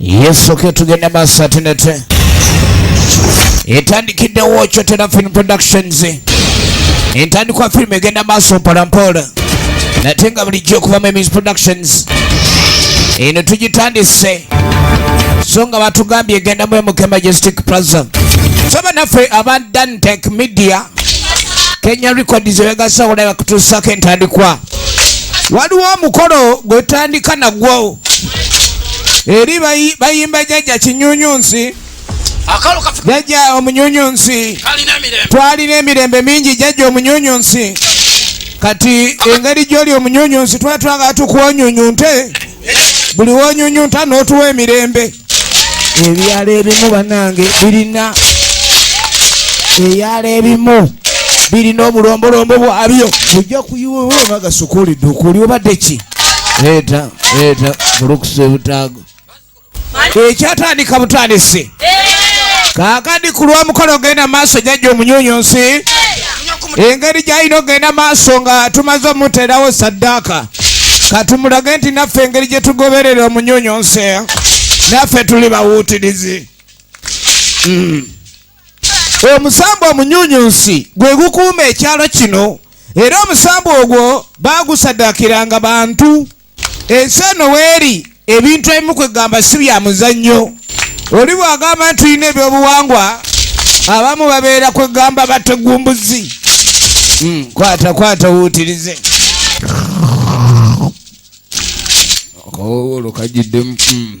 yesu ke tugende maaso atinete etandikiddewo kyotera film productions entandikwa firimu egenda maaso mpolampola nate nga bulijjo okuva mu emis productions eno tugitandise so nga batugambye egendamu emuke majestic plaza so banaffe aba dantec media kenya records ebegasawo naye bakutuusako entandikwa waliwo omukolo gwe tutandika nagwo eri bayimba jajja kinyunyunsi jajja omunyunyunsi twalina emirembe mingi jajja omunyunyunsi kati engeri gyoli omunyunyunsi twatwagala tukuonyunyunte buli wonyunyunta n'otuwa emirembe ebyalo ebimu banange birina eyalo ebimu birina obulombolombo bwabyo ojja kuyiwewemagasukulidde okuliobadde ki leeta leeta bulukuse butaago ekyatandika butandisi kakadi ku lwamukolo ogenda maaso jajja omunyunyunsi engeri gyalina ogenda maaso nga tumaze omuteerawo saddaaka katumulage nti naffe engeri gye tugoberera omunyunyunsi naffe tuli bawuutirizi hmm. omusambwa omunyunyunsi gwe gukuuma ekyalo kino era omusambwa ogwo baagusaddaakiranga bantu ensi eno weeri ebintu ebimu kwegamba si bya muzannyo oli bwagamba nti tulina ebyobuwangwa abamu babeera kwegamba bategumbuzi hmm, kwata kwata wuutirize akawowolo kajiddemu hmm.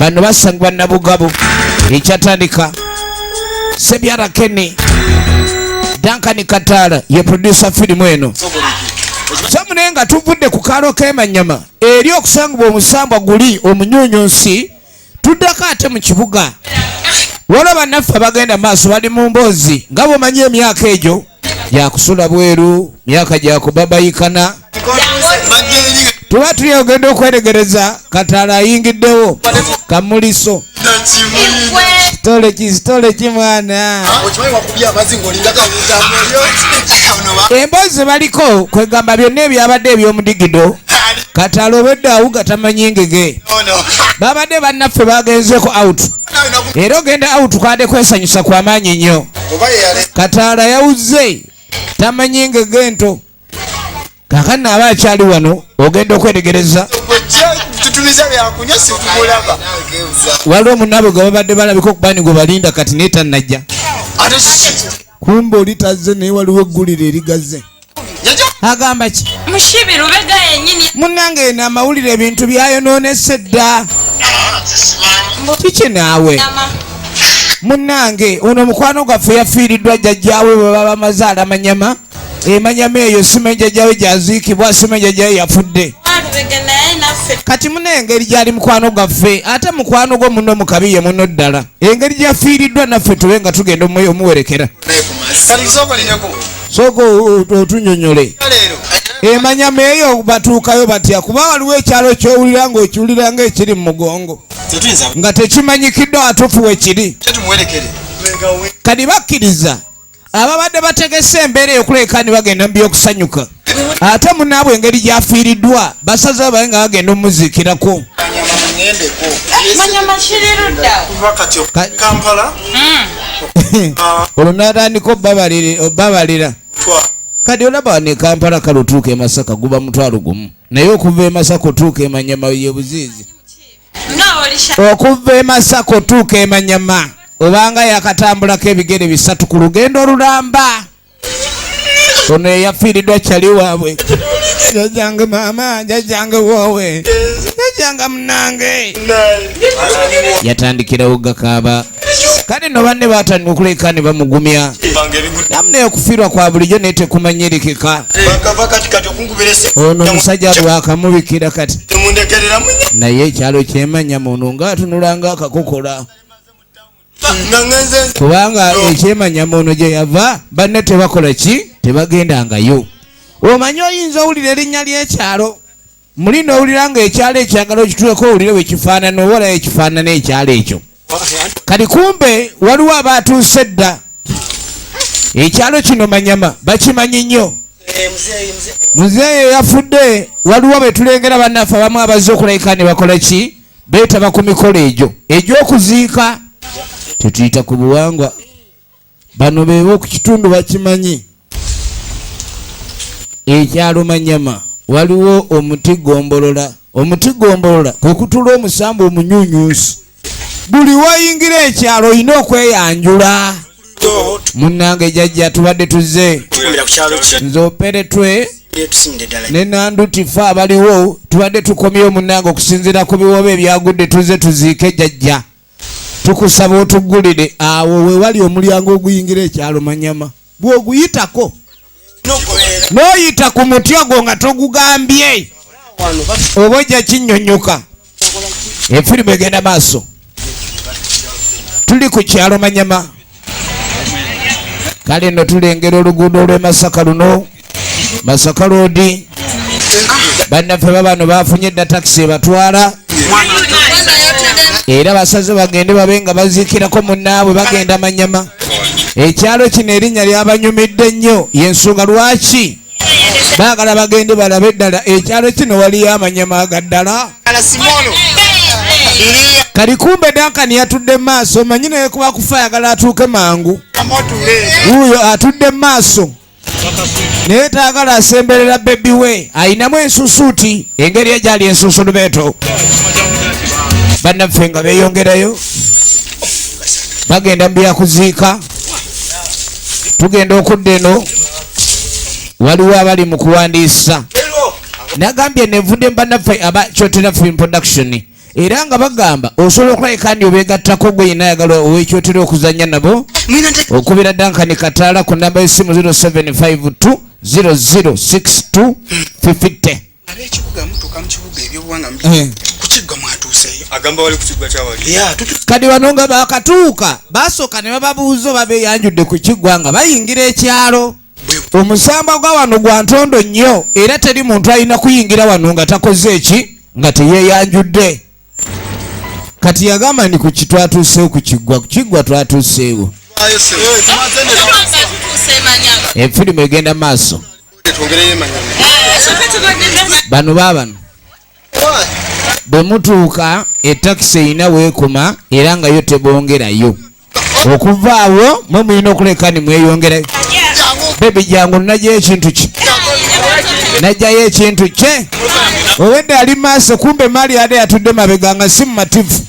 bano basangibwa nabugabo ekyatandika sebyara keni dankani kataala ye producer firimu eno samune nga tuvudde ku kaalo kemanyama eri okusangibwa omusambwa guli omunyunyu nsi tuddako ate mu kibuga waliwo bannaffe abagenda maaso bali mu mboozi nga bwomanyi emyaka egyo yakusula bweru myaka gyakubabayikana tuba tuli ogenda okweregereza katala ayingiddewo kamuliso kitole ki kitole ki mwana ah, emboozi baliko kwegamba byonna ebyabadde ebyomudigido katala obedde awuga tamanyi ngege babadde bannaffe bagenzeko out era ogenda out kwade kwesanyusa kwamaanyi nnyo kataala yawuzze tamanyi ngege ento kakano aba akyali wano ogenda okwetegereza waliwo omunaabwe gwe babadde balabika okubani gwe balinda kati naye tannajja kumbe oli tazze naye waliwo eggulire erigazze agamba ki mushibi lubega yenyini munange eno amawulire ebintu byayononese dda kiki naawe munange ono omukwano gwaffe yafiiriddwa jjajjaawe bwe baba maze alamanyama emanyama eyo sima enjajjawe gyaziikibwa sima enjajjawe yafudde kati muna engeri gyali mukwano gwaffe ate mukwano gwo muno mukabiye muno ddala engeri gyafiiriddwa naffe tube nga tugenda omuwerekera sooka otunyonyole emanyama eyo batuukayo batya kuba waliwo ekyalo kyowulira nga okiwulira nga ekiri mu mugongo nga tekimanyikidde watuufu wekiri kadi bakkiriza ababadde bategese embeera eyokuleka ni bagenda mu byokusanyuka ate munaabwe engeri gyafiiriddwa basaza baye nga bagenda omuziikirako olwo natandika obabalira kati olaba ne kampala kale otuuka emasaka guba mutwalo gumu naye okuva emasaka otuuka emanyama yebuziizi okuva emasaka otuuka emanyama obanga yakatambulako ebigere bisatu ku lugendo olulamba ono eyafiiridwa kyali waabwe jajange maama jajange woowe jajanga munange yatandikirawo gakaaba kale no banne batandika okuleka ne bamugumya namuna ekufirwa kwa bulijjo naye tekumanyirikika ono omusajja lwakamubikira kati naye ekyalo kyemanya muntu ngaatunulanga akakokola kubanga ekyemanya muno gye yava banne tebakola ki tebagendangayo omanyi oyinza owulira erinnya ly'ekyalo muli nowulira nga ekyalo ekyagala okituleko owulire wekifaanana owola ekifaanana ekyalo ekyo kati kumbe waliwo abaatuuse dda ekyalo kino manyama bakimanyi nnyo eh, muzeeyi eyafudde waliwo betulengera bannaffe abamu abazze okulabika ne bakola ki beetaba ku mikolo egyo egy'okuziika tetuyita ku buwangwa bano beeba ku kitundu bakimanyi ekyalo manyama waliwo omuti gombolola omuti gombolola kwe kutula omusamba omunyunyusi buli wayingira ekyalo olina okweyanjula munnange jajja tubadde tuzze nze operetwe ne nanduti fe abaliwo tubadde tukomyewo munnange okusinziira ku biwoobe ebyagudde tuzze tuziike jajja tukusaba otuggulire awo wewali omulyango oguyingira ekyalo manyama bw'oguyitako n'oyita ku muti ogwo nga togugambye oba ojja kinyonyoka efirimu egenda maaso tuli ku kyalo manyama kale no tulengera oluguudo olw'e masaka luno masaka loodi bannaffe babano bafunye edda takisi ebatwala era basaze bagende babe nga baziikirako munnaabwe bagenda manyama ekyalo kino erinnya lyabanyumidde nnyo yensonga lwaki baagala bagende balabe eddala ekyalo kino waliyo amanyama agaddala kali kumbe dankani yatudde mu maaso manyi naye kuba kufa ayagala atuuke mangu wuuyo atudde mu maaso naye taagala asemberera bebi we ayinamu ensusuuti engeri egyali ensunsulumeeto bannaffe nga beyongerayo bagenda mu byakuziika tugenda okudda eno waliwo abali mu kuwandiisa nagambye nevudde mbanaffe aba kyotera film production era nga bagamba osobola okulabika ndi obeegattako gwe yina ayagala owekyotera okuzannya nabo okubira dankani kataala ku namba y'essimu 0752 0062 50 ab'ekibuga mutuuka mu kibuga ebyobuwanga eh. ku kiggwa mwatuuseeyo agamba wali ku kiggwa kyawali kati bano nga baakatuuka basooka ne bababuuza oba beeyanjudde ku kiggwa nga bayingira ekyalo omusambwa gwa wano gwa ntondo nnyo era teri muntu alina kuyingira wano nga takoze eki nga teyeyanjudde kati yagamba ni ku kitwatuuseewo ku kiggwa ku kiggwa twatuuseewo efirimu egenda maaso bano baabano bwe mutuuka etakisi erina weekoma era nga yo tebongerayo okuva awo mwe mulina okuleka ni mweyongera bebi jangu najja ekintu ki najjayo ekintu kye owedde ali maaso kumbe maali ade yatudde mabega nga si mumativu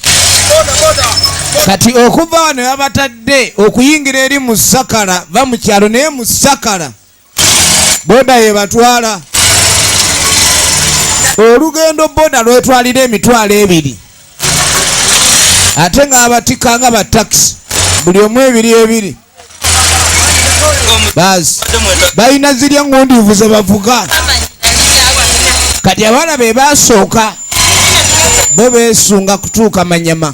kati okuva wano yabatadde okuyingira eri musakala va mu kyalo naye musakala boda yebatwala olugendo boda lwetwalira emitwalo ebiri ate ng'abatika nga batakisi buli omu ebiri ebiri bazi balina zirya ngundiivu ze bavuga kati abaana be basooka bo beesunga kutuuka manyama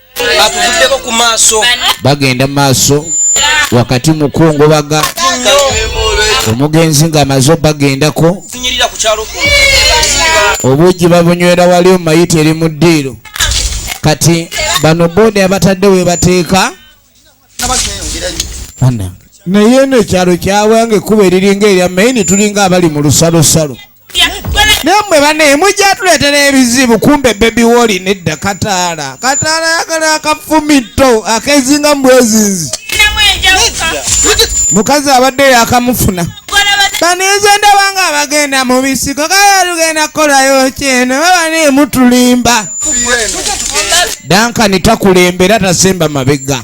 bagenda mu maaso wakati mu kungobaga omugenzi ng'amaze obagendako obuugi babunywera wali omumayita eri mu ddiiro kati bano boda abatadde we bateeka naye eno ekyalo kyawange ekkuba eriringa erya maini tulinga abali mu lusalosalo naye mwe bane mujja tuleetera ebizibu kumbe bebi woli nedda kataala kataala yagala akafumitto akezinga mbwezinzi mukazi abadde yakamufuna banize ndaba nga abagenda mu bisiko kaya lugenda kukolayo kyeno babani mutulimba dankani takulembera tasemba mabega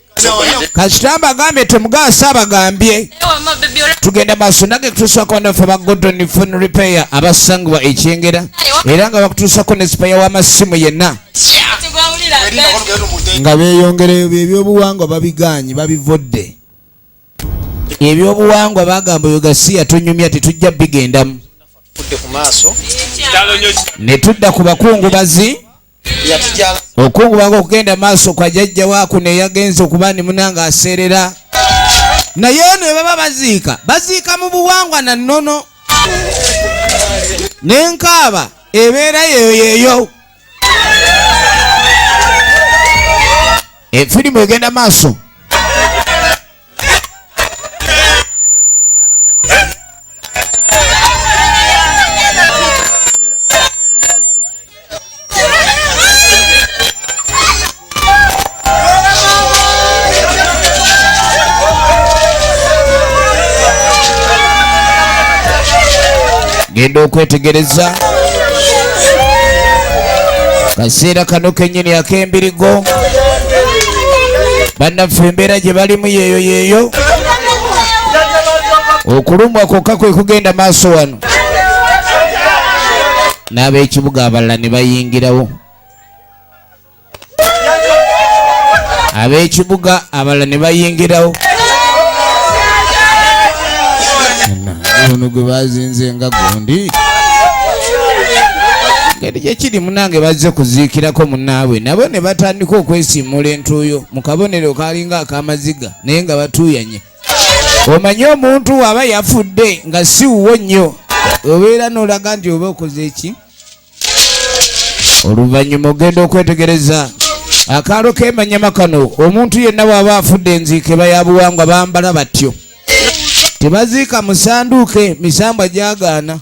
kasita mbagambye temugaasa abagambye tugenda maaso nange kutuusako banafe ba godon fon repair abasangibwa ekyengera era nga bakutuusako ne sipaya w'amasimu yenna nga beeyongereyo byebyobuwangwa babigaanyi babivodde ebyobuwangwa bagamba oyo gasiya tunyumya tetujja bigendamu ne tudda ku bakungubazi okungubanga okugenda maaso kwa jajja waku neyagenza okuba nimuna nga aseerera naye ono ebaba baziika baziika mu buwangwa na nnono nenkaaba ebeera yeyoyeyo efirimu egenda maaso genda okwetegereza kaseera kano kenyini ak'embirigo bannaffe embeera gye balimu yeeyo yeeyo okulumwa kwokka kwe kugenda maaso wano n'ab'ekibuga abalala ne bayingirawo ab'ekibuga abalala ne bayingirawo ono gwe bazinze nga gundi eri gyekiri munange bazze kuziikirako munaabwe nabo ne batandika okwesiimuula entuuyo mu kabonero kalinga akamaziga naye nga batuuyanye omanyi omuntu aba yafudde nga si wuwo nnyo obeera n'olaga nti oba okoze eki oluvannyuma ogenda okwetegereza akaalo kemanyama kano omuntu yenna bw'aba afudde enziike bayabuwangwa bambala batyo tebaziika musanduuke misambwa gyagaana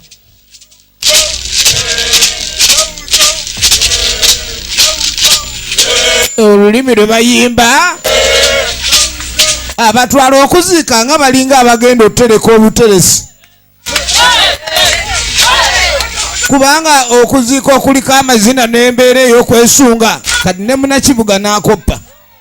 olulimi lwe bayimba abatwala okuziika nga balinga abagenda okutereka obuteresi kubanga okuziika okuliko amazina n'embeera ey'okwesunga kati ne munakibuga n'akoppa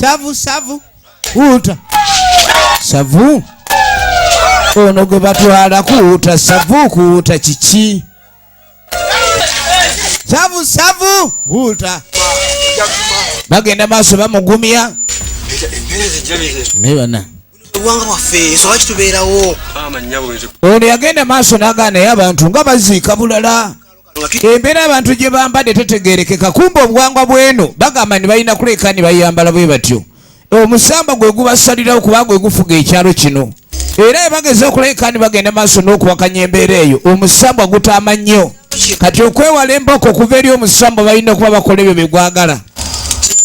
savu savu kuuta savu ono gwe batwala kuuta savu kuuta kiki savu savu kuuta bagenda maaso bamugumya naye bana obwanga bwaffe nsoba kitubeerawo ono yagenda maaso nagaa naye abantu nga baziika bulala embeera abantu gye bambadde tetegerekeka kumba obuwangwa bweno bagamba ni balina kuleka ni bayambala bwe batyo omusamba gwe gubasalirawo kuba gwe gufuga ekyalo kino era ebageza okuleka ni bagenda maaso n'okuwakanya embeera eyo omusambwa gutaama nnyo kati okwewala emboko okuva eri omusambwa balina okuba bakola ebyo bye gwagala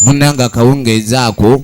munanga akawungeezaako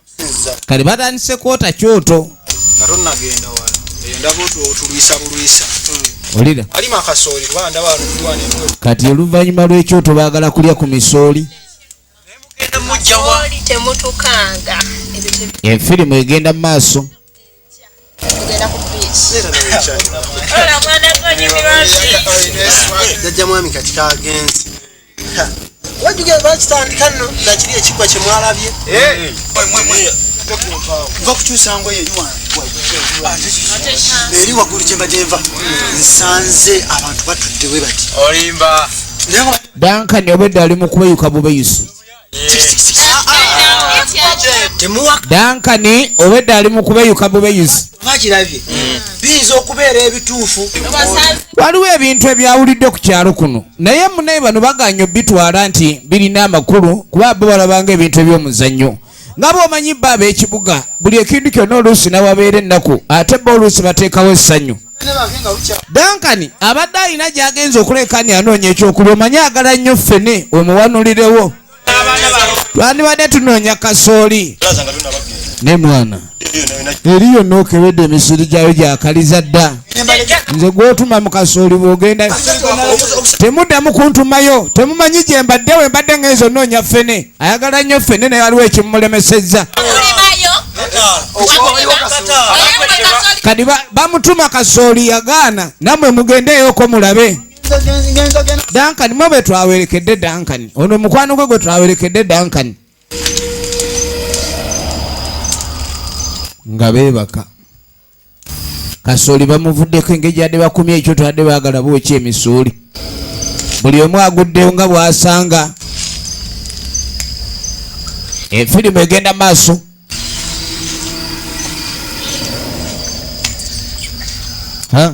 kale batandise kwota kyoto olira kati oluvannyuma lw'ekyoto baagala kulya ku misooli enfirimu egenda mu maaso jajja mwami kati kagenzi wajugera bakitandika nno nga kiri ekigwa kye mwalabye va kukyusa ngoye eri wange eri waggulu gye mbadde nva nsanze abantu batudde we bati olimba Duncan obedde ali mu kubeyuka bubeyusi dankani obwedda ali mukubeyuka bubeyuzi bakirabye mm. biyinza okubeera ebituufu waliwo ebintu ebyawulidde ku kyalo kuno naye munaye bano baganya obitwala nti birina amakulu kuba bo balabanga ebintu eby'omuzannyo nga bwomanyi bba ab'ekibuga buli ekintu kyonna oluusi nawabeera ennaku ate bba oluusi bateekawo essanyu dankani abadde alina gyagenza okulekani anoonya ekyokulya omanyi agala nnyo ffene omuwanulirewo twandibadde tunoonya kasooli ne mwana eri yonna okebedde emisiri gyayo gyakaliza dda nze gwotuma mukasooli bwogenda temuddamu kuntumayo temumanyi gye mbadde we mbadde ngenza onoonya fene ayagala nnyo fene naye waliwo ekimulemesezza kadi bamutuma kasooli yagaana namwe mugendeyoko mulabe dankani mwe bwe twawerekedde dankani ono mukwano gwe gwe twawerekedde dankani nga beebaka kasooli bamuvuddeko engeri gyadde bakumye ekyo twadde baagala bwokya emisuuli buli omu aguddewo nga bwasanga efirimu egenda maaso Huh?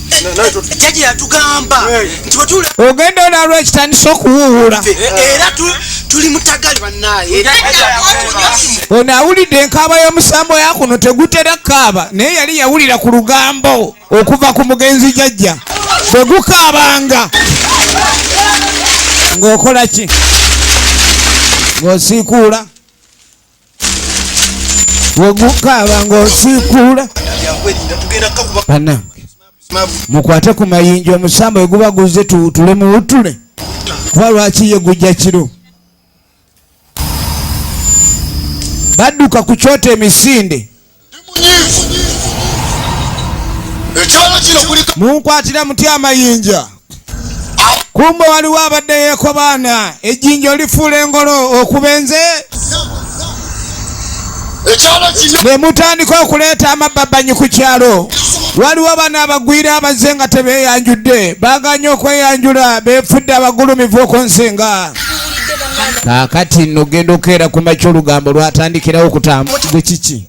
jaji yatugamba nti wetula ogenda olwalwa ekitandisa okuwuwula era tuli mutagali banaye ono awulidde enkaaba y'omusambo yakuno tegutera kaaba naye yali yawulira ku lugambo okuva ku mugenzi jajja bwe gukaabanga ng'okola ki ng'osiikuula wegukaaba ng'osiikuula banange mukwate ku mayinja omusamba weguba guzze tuwutule muwutule kuba lwaki ye gujja kiro badduka ku kyota emisinde munkwatira muti amayinja kumba waliwo abadde yekobaana ejjinja olifuula engolo okubenze ne mutandika okuleeta amabbabanyi ku kyalo waliwo bano abagwira abazze nga tebeeyanjudde baganye okweyanjula beefudde abagulumivu okunsinga kakati no genda okeera ku makya olugambo lwatandikirawo okutambugwe kiki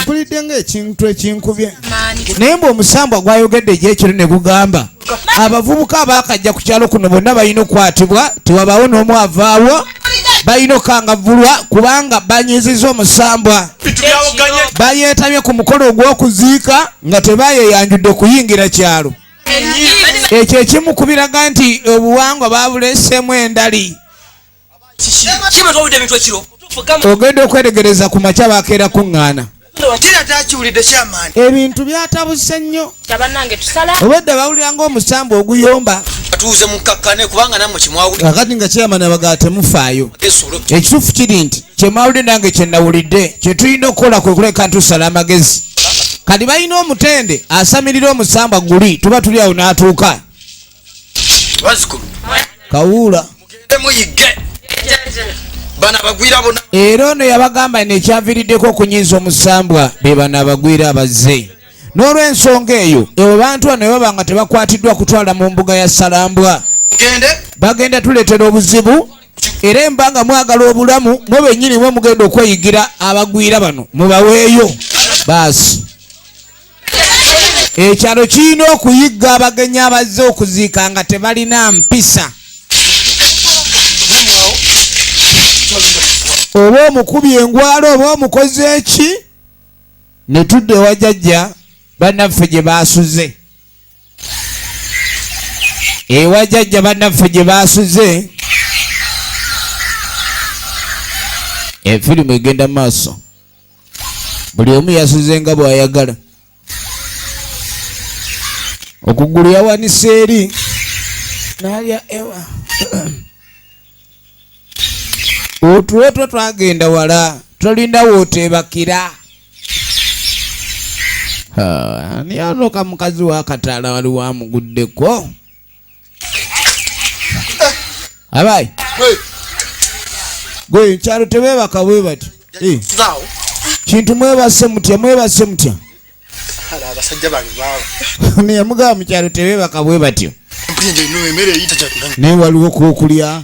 mpulidde nga ekintu ekinkubye naye mbu omusambwa gwayogedde egyekiro ne gugamba abavubuka abaakajja ku kyalo kuno bonna balina okukwatibwa tewabaawo n'omu avaawo balina okukangavulwa kubanga banyiziza omusambwa bayeetabye ku mukolo ogw'okuziika nga tebayeyanjudde okuyingira kyalo ekyo ekimu kubiraga nti obuwangwa babuleseemu endali ogenda okweregereza ku makya bakeera kuŋŋaana ebintu byatabuse nnyo obwedda bawulira ngaomusambwa oguyomba kakati nga kyeyamana bagaa temufaayo ekituufu kiri nti kyemawulidde nange kyenawulidde kyetulina okukola kwe kuleka ntusala amagezi kati balina omutende asamirira omusambwa guli tuba tuli awo n'atuuka kawuula era ono yabagamba nekyaviriddeko okunyiiza omusambwa be bano abagwira abazze n'olwensonga eyo ewe bantu bano baba nga tebakwatiddwa kutwala mu mbuga ya salambwa bagenda tuletera obuzibu era emba nga mwagala obulamu mwe bennyini mwe mugenda okweyigira abagwira bano mubaweeyo baasi ekyalo kirina okuyigga abagenyi abazze okuziika nga tebalina mpisa oba omukubi engwalo oba omukozi eki ne tudda ewa jajja bannaffe gye baasuze ewa jajja bannaffe gye baasuze efirimu egenda maaso buli omu yasuze nga bw'ayagala okugulu yawanise eri nalya ewa otuletwa twagenda wala tolinda woteebakira ani anoka mukazi wakataala wali wamuguddeko abayi gwe kyalo tebebaka bwe bati eh. kintu mwebase mutya mwebase mutya abasajja bange baaba neyamugaba mukyalo tebebaka bwe batyo naye waliwo kwokulya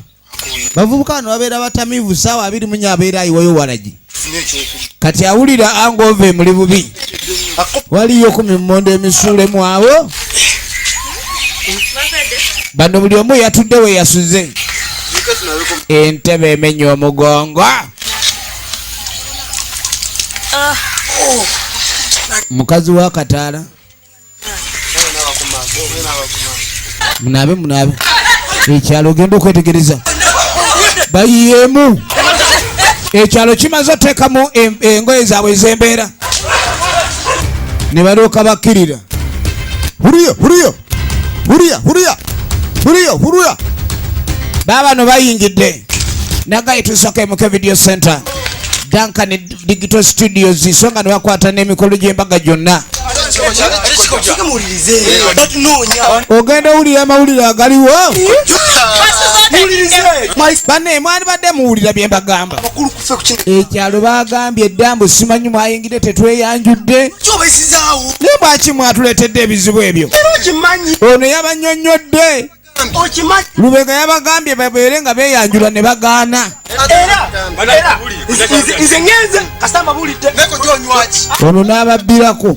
bavubuka bano babeera batamivu saawa abiri munya abeera ayiwayo walagi kati awulira anga ova emuli bubi waliyo ku mimmondo emisuulemu awo bano buli omu yatudde we yasuze entebe emenya omugongo mukazi wa kataala munaabe munaabe ekyalo ogenda okwetegereza bayiyemu ekyalo kimaze oteekamu engoye zaabwe ez'embeera ne balyoka bakkirira huriyo huriyo Huria, huria. Huria, huria. Baba no bayingidde. Nagaye tusake mu video center. Duncan Digital Studios isonga nwakwata n'emikolo gy'embaga gyonna. Ogenda owulira amawulire agaliwo. Bane mwali badde muwulira bye mbagamba. ekyalo bagambye dda mbu simanyi mwayingidde tetweyanjudde naye bwaki mwatuleetedde ebizibu ebyo ono yabanyonyodde lubega yabagambye babeere nga beyanjula ne bagaana ono n'ababbirako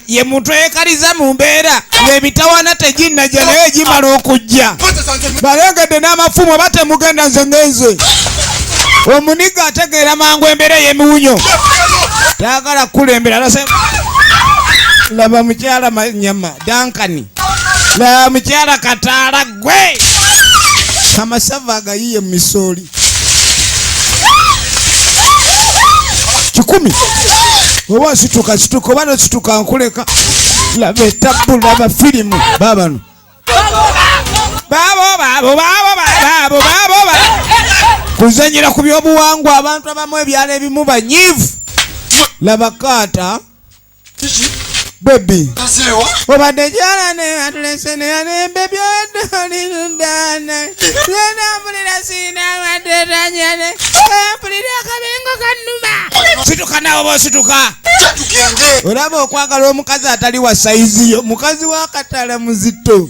ye muntu eyekaliza mu mbeera ngaemitawana teginnajja naye egimala okujja balengedde n'amafumu oba temugenda nze ngenze omuniga ategeera mangu embeera eyemiwunyo tayagala kukulembera alase laba mukyala manyama dankani laba mukyala kataala gwe amasava agayiye mu misooli kikumi oba nsituka situka oba nosituka nkuleka laba etabu laba firimu babano kuzanyira ku byobuwangwa abantu abamu ebyalo ebimu banyivu laba kaata bebi obadde jala ne atulese ne ne bebi odolirudana nenambulira sirina amatetanya ne empulira akabengo kanuma situka nawe oba osituka olaba okwagala omukazi atali wa sayizi yo mukazi wakatala muzito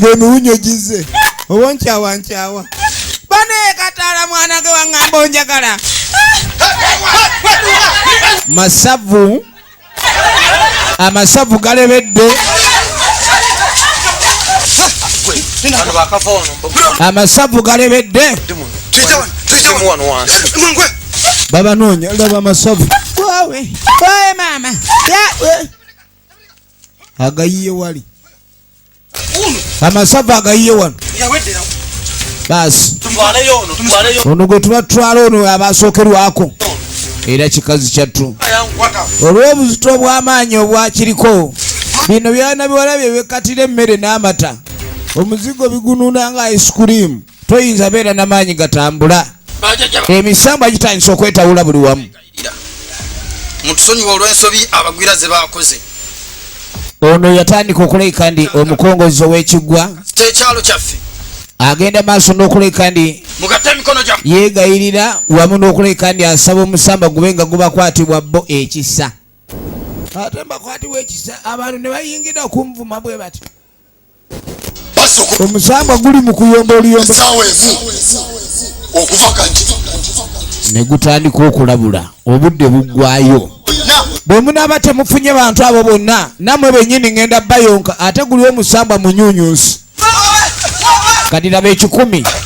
ng'emiwunyo gizze oba nkyawa nkyawa banaye kataala mwana ge waŋŋamba onjagala masavu amasavu galebedde amasavu galebedde babanoonya laba amasavu wawe wawe maama agayiye wali amasava agayiye wano basi ono gwe tuba tutwala ono abasookerwako era kikazi kyattu olw'obuzito obw'amaanyi obwakiriko bino byana biwala bye bekkatira emmere n'amata omuzigo bigunuuna nga ice cream toyinza beera namaanyi gatambula emisambwa gitandisa okwetawula buli wamu mutusonyiwa olw'ensobi abagwira ze baakoze ono yatandika okuleka ndi omukongozi ow'ekiggwa kyekyalo kyaffe agenda maaso n'okuleka ndi yeegayirira wamu n'okuleka ndi asaba omusamba gube nga gubakwatibwa bo ekisa ate mbakwatibwa ekisa abantu ne bayingira okunvuma bwe batyo omusambwa guli mu kuyomba oluyomba ne gutandika okulabula obudde buggwayo bwe munaaba temufunye bantu abo bonna nammwe bennyini ŋenda bayonka ate guli omusambwa munyunyunsi kati laba ekikumi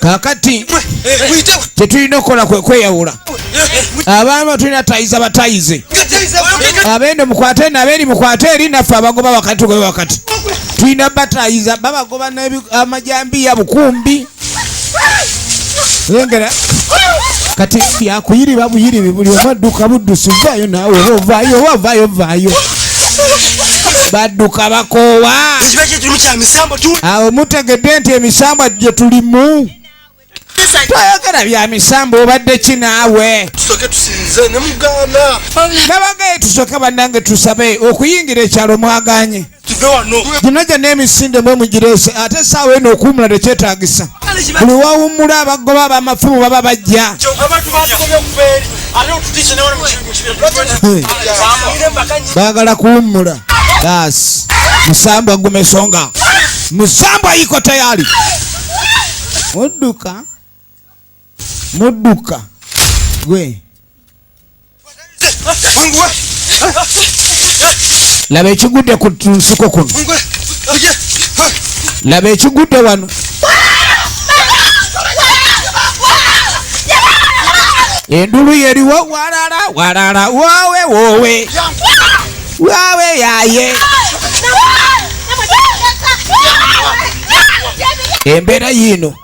kakati kyetulina okukola kwekweyawula abaama tulina tayiza batayize abende mukwate eno abeeri mukwate eri naffe abagoba wakati tugobe wakati tulina batayiza babagoba amajambiya bukumbi lengera kati yakuyiriba buyiribi buli omu adduka buddusi vaayo naawe oba ovaayo oba ovaayo vaayo badduka bakoowa awo mutegedde nti emisambwa gye tulimu twayogera bya misambwa obadde ki naawe nabagaye tusoke bannange tusabe okuyingira ekyalo mwaganye tuve wano gino gye n'emisinde mwe mugireese ate esaawa eno okuwumula tekyetagisa buli wawummula abagoba abamafumu baba bajja baagala kuwummula basi musambwa guma esonga musambwa yiko tayali odduka mudduka gwe laba ekigudde ku nsuko kuno laba ekigudde wano endulu yeriwo walala walala wowe wowe wowe yaye embeera yiino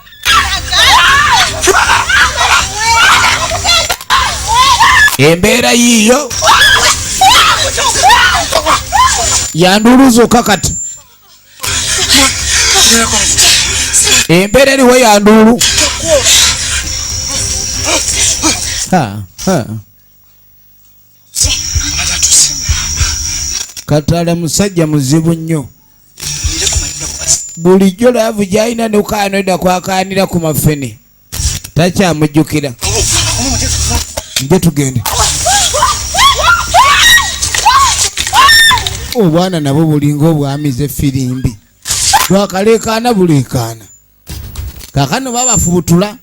embeera yiiyo yanduulu zokka kati embeera eriwo yanduulu ha, ha. katala musajja muzibu nnyo bulijjo laavu gyalina nokanoda kwakaanira ku mafene takyamujjukira nje tugende obwana nabo bulinga obwamize firimbi bwakaleekaana buleekaana kakano babafubutula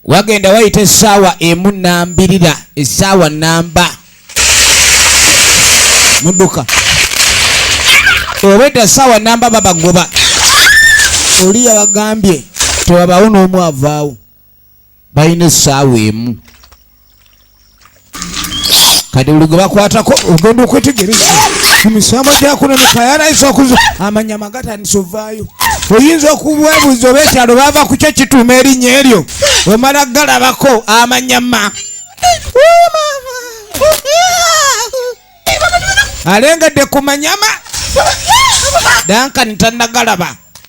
wagenda wayita esaawa emu nambirira esaawa namba muduka obwedda saawa namba babagoba oli yabagambye tewabawo n'omu avaawo balina essaawa emu kati buli gwe bakwatako ogenda okwetegereza ku misango gyakunoneka yaraisa okuza amanyama gatandisa ovaayo oyinza okubwebuza oba ekyalo baava ku kyo kituuma erinnya eryo omala galabako amanyama alengedde ku manyama dankani tanagalaba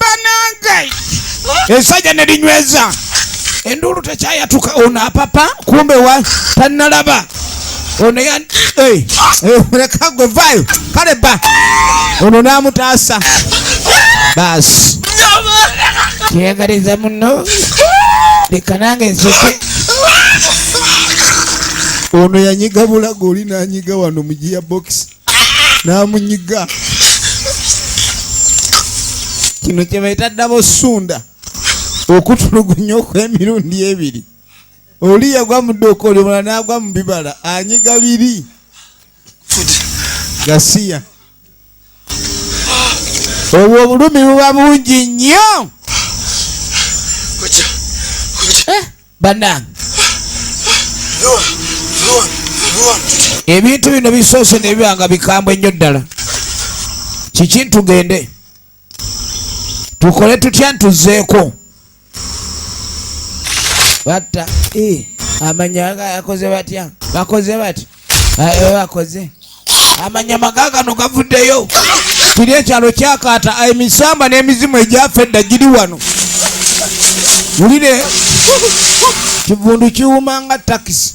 banange esajja ne linyweza enduulu tekyayatuka ono apapa kumbe wa tannalaba ono leka gwe vayo kale ba ono n'amutaasa baasi kyeyagaliza muno leka nange nsoke ono yanyiga bulago oli nanyiga wano mu gia box namunyiga kino kyebaita ddabo sunda okutulugunya okwemirundi ebiri oli yagwa mu dduuka oli omulala nagwa mu bibala anyiga biri gasiya obwo obulumi buba bungi nnyo eh, banange ebintu bino bisoose nebibanga bikambwe nnyo ddala kiki ntugende tukole tutya ntuzeeko batta eh, amanya ga yakoze batya bakoze bati eh, bakoze amanya maga gano gavuddeyo kiri ekyalo kyakaata emisamba n'emizimu egyafa edda giri wano wulire kivundu kiwuma nga takisi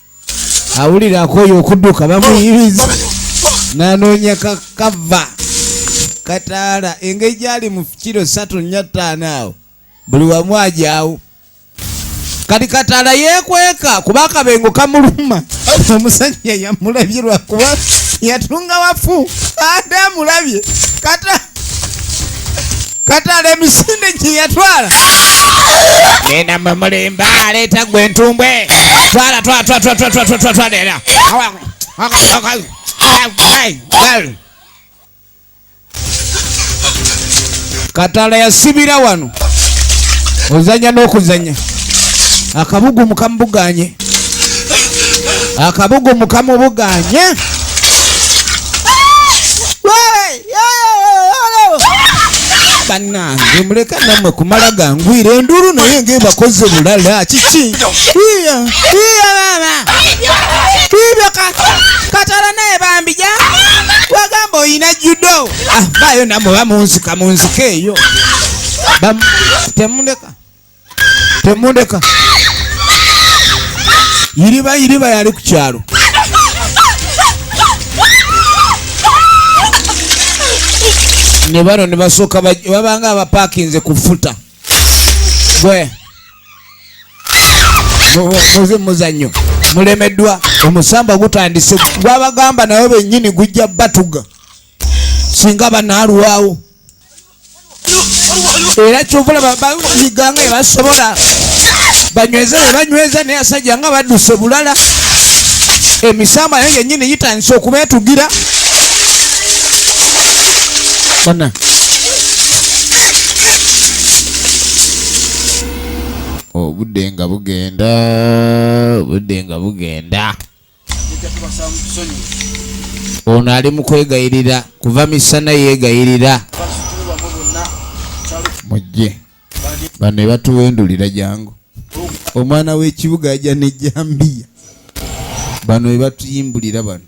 awulira akooye okuduka bamuyibiza nanoonya kakava kataala engeri gyali mu kiro satu nya ttaano awo buli wamu ajawo kati kataala yekweka kuba akabengo kamuluma omusajja yamulabye lwakuba yatunga wafu ate amulabye kataala katala emisinde gye yatwala genda mwe mulimba aleeta gwe entumbwe twala twatwatwatwatwatwatwatwalera katala yasibira wano ozanya n'okuzanya akabugu mukamubuganye akabugu mukamubuganye banange muleka namwe kumala gangwira enduru naye ngebakoze bulala kiki iya iya mama ibyo katala naye bambija wagamba oyina judo ah, bayo namwe bamunzika munzika eyo temuleka temundeka iriba iriba yali ku kyalo ne bano ne basooka babanga abapakinze ku futa gwe muzi muzanyo mulemeddwa omusamba gutandise gwabagamba nayo bennyini gujja batuga singa banaalwawo era kyova olaba bayiga nga ebasobola banyweza bebanyweza naye asajja nga badduse bulala emisamba naye genyini gitandise okubetugira bana obudde nga bugenda obudde nga bugenda ono ali mu kwegayirira kuva misana yeegayirira mujje bano ebatuwendulira jangu omwana w'ekibuga ajja nejambiya bano ebatuyimbulira bano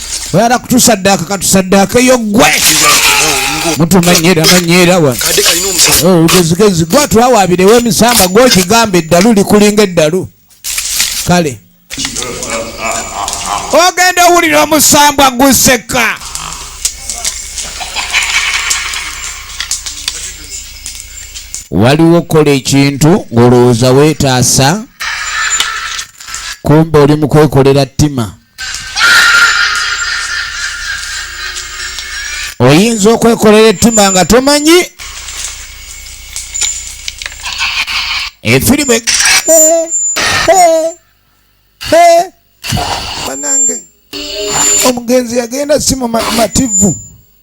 oyala kutusaddaaka katusaddaakeyo gwe mutumanyira manyira wa olugezigezi oh, gwa twawabirewo emisamba gwokigamba eddalu likulinga eddalu kale ogenda owulira omusambwa guseka waliwo okukola ekintu ng'olowooza weetaasa kumbe oli mu kwekolera ttima oyinza okwekolera ettima nga tomanyi efirimu e- banange omugenzi yagenda si mumativu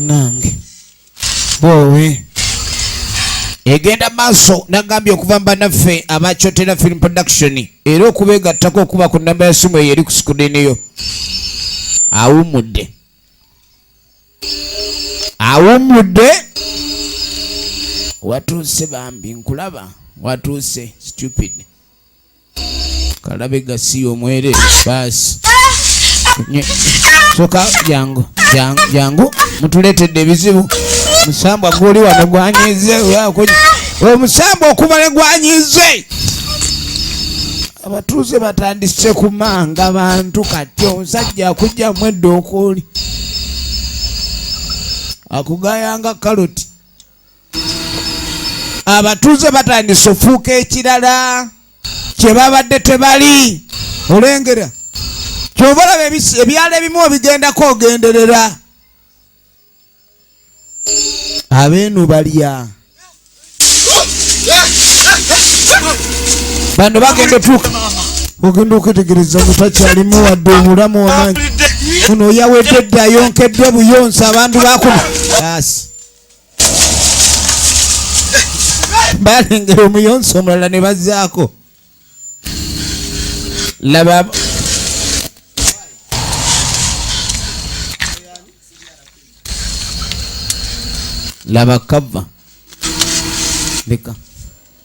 nange bwowe egenda maaso nagambye okuva mubanaffe abakyotera film production era okubegattako okuba ku namba ya simu eyo eri ku sikudiniyo awumudde awumudde watuuse bambi nkulaba watuuse stupid kalabe gasiya omwere baasi soka jangu jangu jangu mutuletedde ebizibu musambwa guli wano gwanyize omusambwa okubale gwanyize abatuuze batandise kumanga bantu kati omusajja akujjamu edda okuuli akugayanga kaloti abatuuze batandise ofuuka ekirala kye babadde tebali olengera kyova olaba ebyalo ebimu obigendako ogenderera abeenu balya bano bagenda otuuka ogenda okwetegereza nga takyalimu wadde omulamu wamanyi ono oyawedde dda yonkeddwa buyonsa abantu bakuma balengera omuyonsi omulala ne bazzaako laba laba kava leka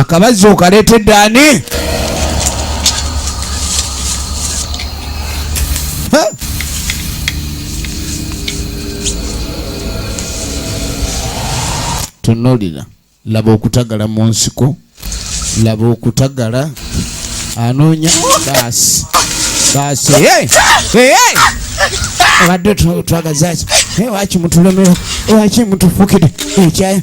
akabazzi okaleetedde ani tunulira laba okutagala mu nsiko laba okutagala anoonya baasi baasi abadde twagazaki waki mutulemera waki mutufukide ekyayi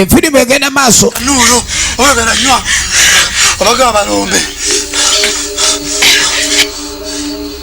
enfirimu egenda maaso nuulu oyogera nywa obaga abalombe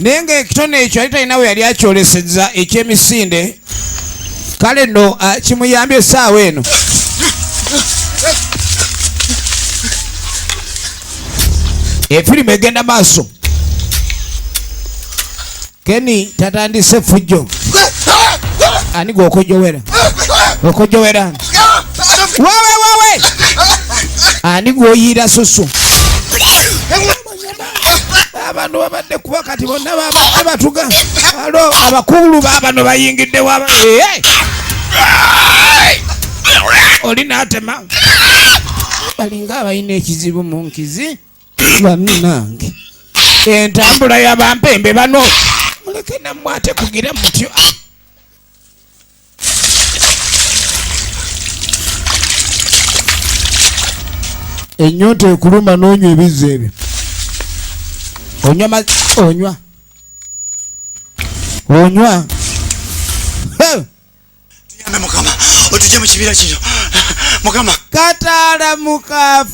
naye ng'ekitone ekyo yali talina we yali akyoleseza ekyemisinde kale nno ah, kimuyambye essaawa eno efirimu egenda maaso keni tatandise fujjo ani gwe okojowera okojowera ani wawe wawe ani gwoyiira susu abantu babadde kuba kati bonna babadde batuga alo abakulu babano bayingidde waba oli natema balinga abalina ekizibu mu nkizi baminange entambula yabampembe bano muleke namwe ate kugira mutyo enyonta ekuluma nonywa ebizzi ebyo onywa onywa onywa tuyambe mukama otujje mu kibira kino mukama kataala mukafu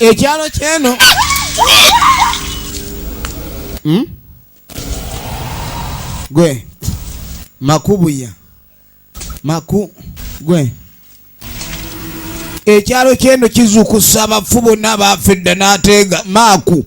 ekyalo kyeno hmm? gwe makubuya maku gwe ekyalo kyeno kizukusa abafu bonna baafedda n'ateega maaku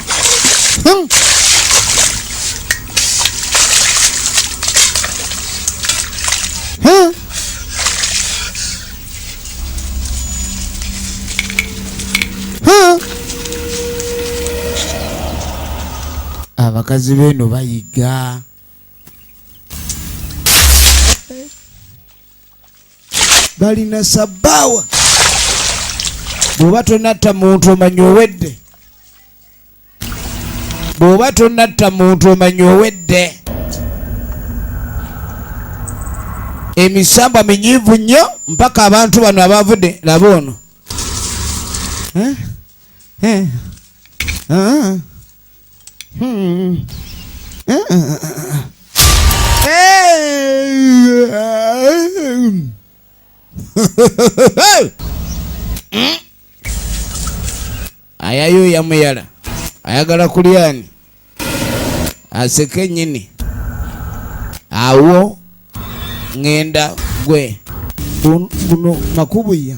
abakazi beeno bayiga balina sabbaawa bw'oba tonatta muntu omanya owedde bw'oba tonatta muntu omanya owedde emisambwa minyivu nnyo mpaka abantu bano abavudde laba ono eh? Eh? Ah. Hmm. ayayo yamuyala ayagala kulyani aseke nyini awo ngenda gwe kuno makubuya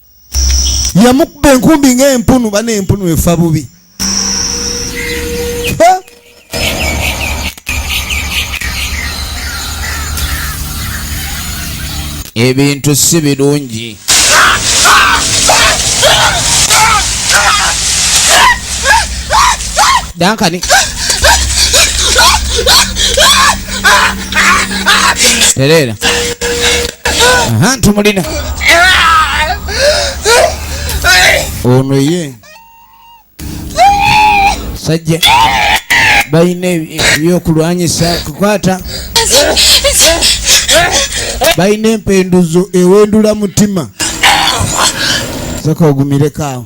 yamukuba enkumbi ng'empunu bana empunu efa bubi ebintu si birungi dankani tereera aha ntumulina ono ye sajja balina ebyokulwanyisa kukwata balina empenduzo ewendula mutima saka ogumireko awo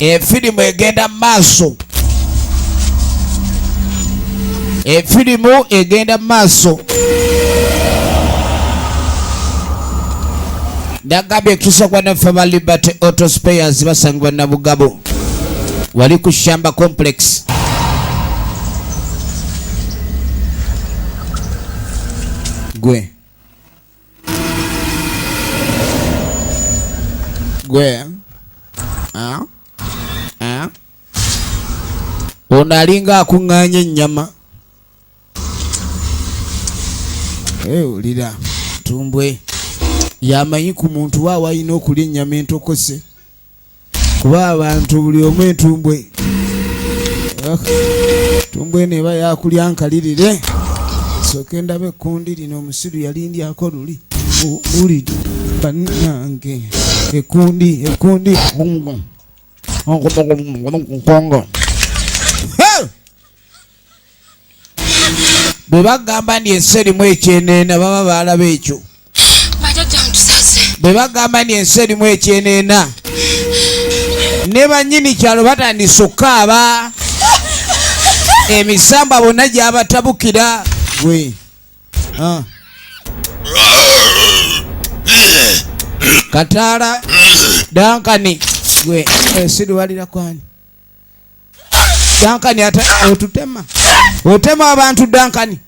efirimu egenda mu maaso efirimu egenda mu maaso ndagambye ekitusa kwa naffe ba liberty auto spayers basangibwa nabugabo wali ku shamba complex gwe gwe ah? Ah? ono alinga akuŋŋaanya ennyama ewulira tumbwe yamanyi ku muntu wa walina okulya ennyama entokose kuba abantu buli omu entumbwe entumbwe eno eba yakulya nkalirire soke ndaba ekkundi lino omusiru yalindyako luli uli banange ekundi ekundi kongo bwe bagamba nti ensi erimu ekyeneena baba baalaba ekyo bwe bagamba nti ensi erimu ekyeneena ne bannyini kyalo batandise okukaaba emisamba bonna gyabatabukira gwe ah. kataala dankani gwe ensi eh, liwalira kwani dankani ate otutema otema abantu dankani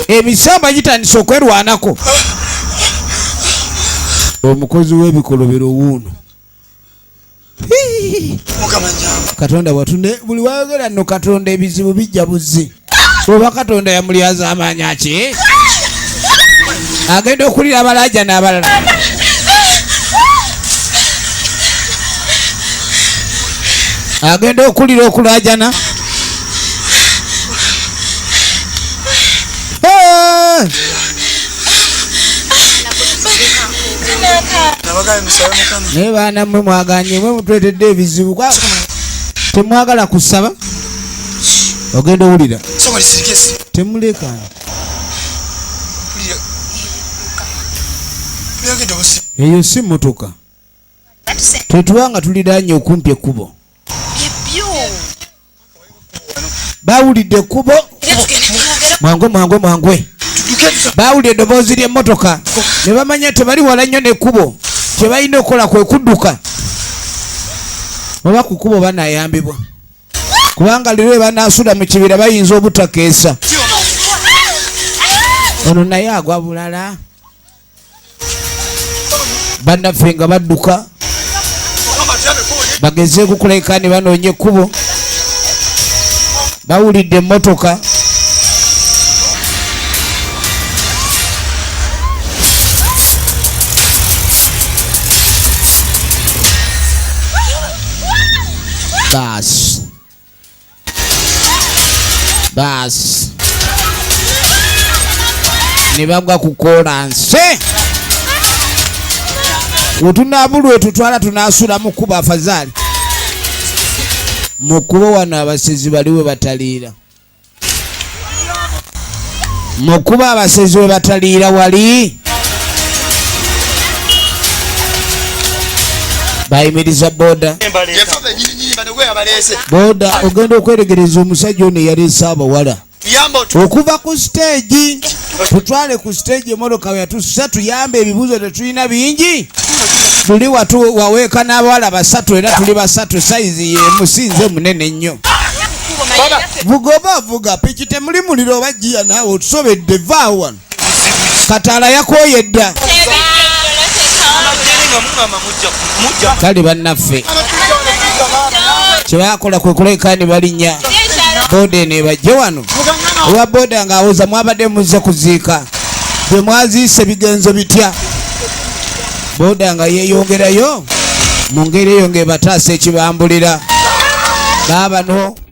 emisamba gitandise okwerwanako omukozi w'ebikolobero wuuno katonda watune buli wayogera no katonda ebizibu bijja buzzi oba katonda yamulyaza amaanya ki agenda okulira abalaja n'abalala agenda okulira okulajana naye baana mwe mwaganye mwe mutwetedde ebizibu temwagala kusaba ogenda owulira temuleka eyo si motoka tetuba nga tuliranye okumpi ekkubo bawulidde ekkubo mwangu mwangu mwangwe bawulira eddoboozi ly'emmotoka ne bamanya tebali wala nnyo n'ekkubo kye balina okukola kwe kudduka oba ku kkubo banayambibwa kubanga lero ebanasula mu kibira bayinza obutakeesa ono naye agwa bulala bannaffe nga badduka bageze kukuleka ne banoonya ekkubo bawulidde emmotoka basi basi ne bagwa ku kolansi wetunabulwe tutwala tunasula mu kkubo afazali mu kkubo wano abasezi baliwe bataliira mu kuba abasezi we bataliira wali bayimiriza boda boda ogenda okweregereza omusajja ono eyaleese abawala okuva ku siteegi tutwale ku siteegi emmotoka we yatussa tuyambe ebibuuzo tetulina bingi tuli watu waweeka n'abawala basatu era tuli basatu sayizi yemu sinze munene nnyo vugoba vuga piki temuli muliro oba jiya naawe otusobedde vaa wano kataala yakooye dda kale bannaffe kyebakola kwe kulekaani balinnya boodeni ebajje wano owa boda nga awoza mwabadde muzze kuziika bye mwaziise bigenzo bitya boda nga yeeyongerayo mu ngeri eyo ng'ebataasa ekibambulira baabano